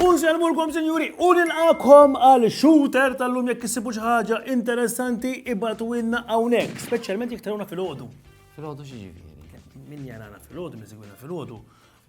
Unselmulkom, sinjuri, u nilqakom għal shooter tal-lum jekk issibu xi ħaġa interessanti ibatu inna hawnhekk, speċjalment jekk trawna fil-ħodu. Fil-ħodu xi ġifieri? Min jarana fil-ħodu, min segwina fil-ħodu,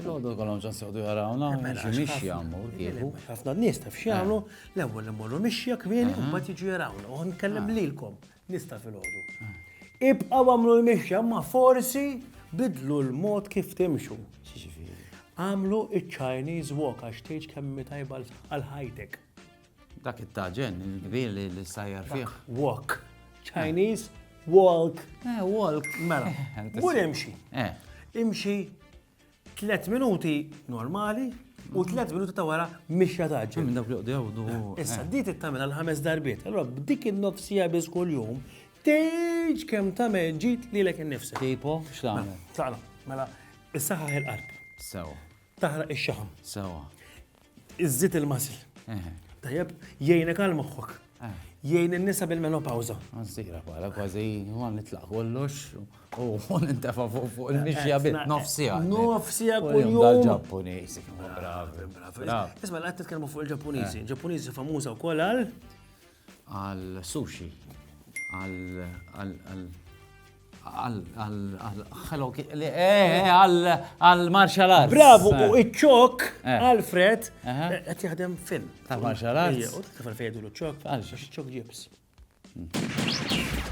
Filgħodu kollhom ġas joqdu jarawna, xi mixja mmur kieku. Ħafna nies taf x'jagħmlu, eh. l-ewwel immorru mixja kmieni u mbagħad jiġu jarawna. U nkellem ah. lilkom, nista' filgħodu. Ah. Ibqgħu għamlu l-mixja ma forsi bidlu l-mod kif timxu. Għamlu iċ-Chinese walk għax tgħid kemm tajba għal ħajtek. Dak it-taġen, il-kbir li l-sajjar fih. Walk. Chinese, walk. Eh, walk. Mela, mur imxi. Eh. Imxi 3 minuti normali u 3 minuti ta' wara mixja taġen. Minn dawk li qdew du. Eh, issa, eh. di tittamela l-ħames darbiet. Allora, b'dik il-nofsija biz kull jum, teġ kem ta' meġġit li l-ek nifsi. Tipo, xlamen. Mela, mela, issa ħaħ il-qalb. Sewa. Taħraq il-xaħam. Sewa. Iżżid il-mażil. Tajjeb, jgħinek għal moħħok. Eh. Jgħin in-nisa bil-menopawza. Għazzira, bħala kważi għan nitlaq kollox u għan intefa fuq il-mixja bit nofsija. Nofsija kull-jum. Dal-Ġappunizi, bravi, bravi. Isma, l-għat t-tkelmu fuq il-Ġappunizi. Eh. Ġappunizi famuza u kolal. għal sushi, għal Hello għal martial arts. Bravo, u eh. iċ-ċok, eh. Alfred, qed jaħdem film. Għal martial arts. U kif fejdu l-ċok? Għal ċok ġibs. Hmm.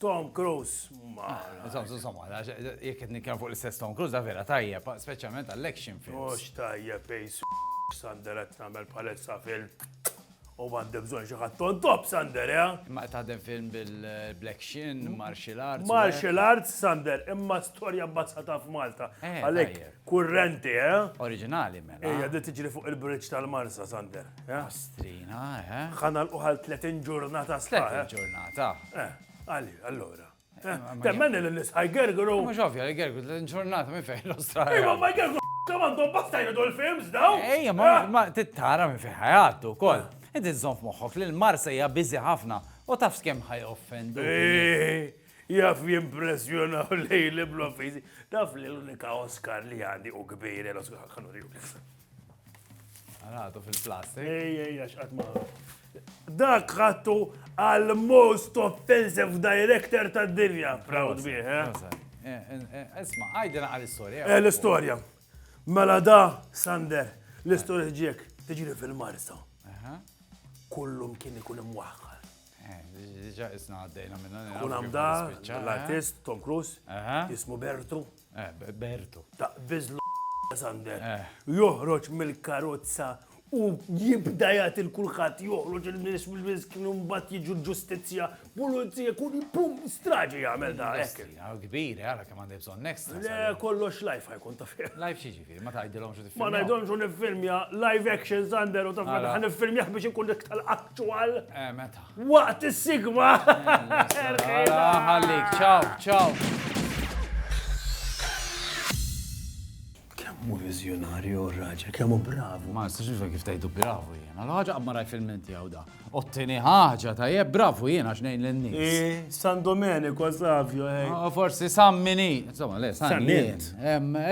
Tom Cruise. Jek qed nitkellem fuq l-istess Tom Cruise, da vera tajjeb, speċjalment għall-action films. Mhux tajjeb fejs Sander qed tagħmel palessa film. U għandi bżonn xi ħadd on top Sander, ja? Ma taħdem film bil-Black Shin, Martial Arts. Martial Arts Sander, imma storja bbazzata f'Malta. Eh, Għalhekk kurrenti, eh? Oriġinali mela. Ejja, di tiġri fuq il-bridge tal-Marsa Sander. Pastrina, eh? Ħa nagħlqu għal 30 ġurnata sħaħ. 30 eh? ġurnata. Eh, għali, allura. Eh, eh, Temmen li l-isħaj gergru. Mux ovvja li gergru 30 ġurnata minn fejn l-Australia. Imma ma gergru għandhom bastajna dol films daw. Ej, ma tittara minn fejn ħajattu kol. Inti zon f'moħħok li l-Marsa hija biżi ħafna u taf skem ħaj offendu. Jaf jimpressjona u lejli bl-offizi. Taf li l-unika Oscar li għandi u kbir l-Oscar ħanuri Għalħatu fil-plastik. Ej, ej, għax għatma. Dak ħattu għal most offensive director ta' dinja. Proud bih, eh? eh, eh, eh Esma, għajdina għal istoria Eh, l-istoria. Mela da, Sander, l-istoria ġiek, tiġri fil-marsa. Kullum kien ikun imwaħħar. Diġa isna għaddejna minna. Kun għamda, l-artist Tom Cruise, jismu Bertu. Eh, Berto. Taqbiż l Sander. Eh. Joħroġ mill-karozza u jibda jagħti l-kulħadd joħroġ il-nies mill-nies kienu mbagħad jiġu l-ġustizzja, pulizija, kull pum straġi jagħmel da hekk. Kbir, ara kemm għandi bżonn next. Le kollox live ħajkun ta' fih. Live xi ġifieri, ma tgħidilhomx u tiffilmja. Ma ngħidhomx u niffilmja live action Sander u taf meta ħan niffilmjah biex ikun dik tal-actual. Eh meta. Waqt is-sigma! Alla ħallik, ċaw, ċaw. Kemmu vizjonarju raġel, kemmu bravu. Ma nistax nifhem kif tajdu bravu jiena. L-ħaġa qabma rajt fil-menti għaw da. Ottini ħaġa tajjeb bravu jiena x'ngħin lin-nies. Eh, San Domenico, Savio, eh. Ah, forsi San Mini. Insomma, le, San Mini.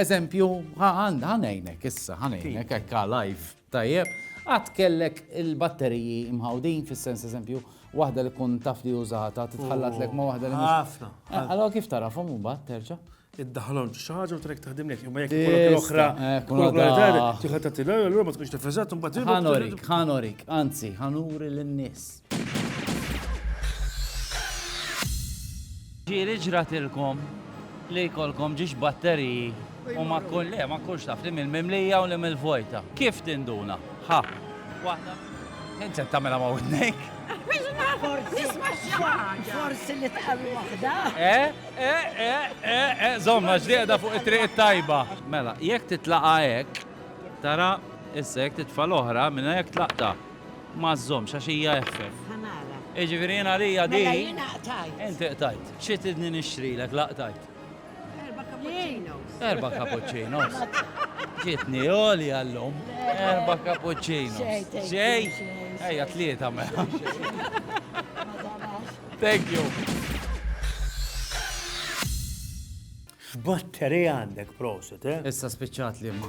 Eżempju, ħanejnek issa, ħanejnek, ekka live. Tajjeb, qatt kellek il-batteriji mħawdin, fis-sens eżempju, waħda li tkun taf li użatha titħallatlek ma' waħda li mhux. Ħafna. Eh, allora kif tarafhom imbagħad terġa'? iddaħħalhom xi ħaġa u trek taħdimlek. Imma jekk ikollok l-oħra, eh, ikollok l-oħra, tieħed tagħtilha, allura ma tkunx tifriżat u mbagħad. Ħanorik, ħanorik, anzi, ħanuri lin-nies. Ġieli ġratilkom li jkollkom ġiex batteriji u ma kull le, ma kullx taf li mill-mimlija u li mill-vojta. Kif tinduna? Ħa. Waħda. Inti tagħmilha ma' widnejk. Forsi li tħallu waħda. Eh, eh, eh, eh, eh, zomma ġdieda fuq it-triq it-tajba. Mela, jekk titlaqa hekk, tara issa jekk titfa' l-oħra minn hekk tlaqta. Ma żżommx għax hija eħfef. Ħa nara. Jiġifieri jien għalija din. Mela jiena qtajt. Inti qtajt. Xi tridni nixtrilek la qtajt? Erba' cappuccinos. Erba' cappuccinos. Ġietni għolja llum. Erba' cappuccinos. Xejn. Ejja tlieta mela. Thank you. X'battery għandek prosit, eh? Issa spiċċat li ma.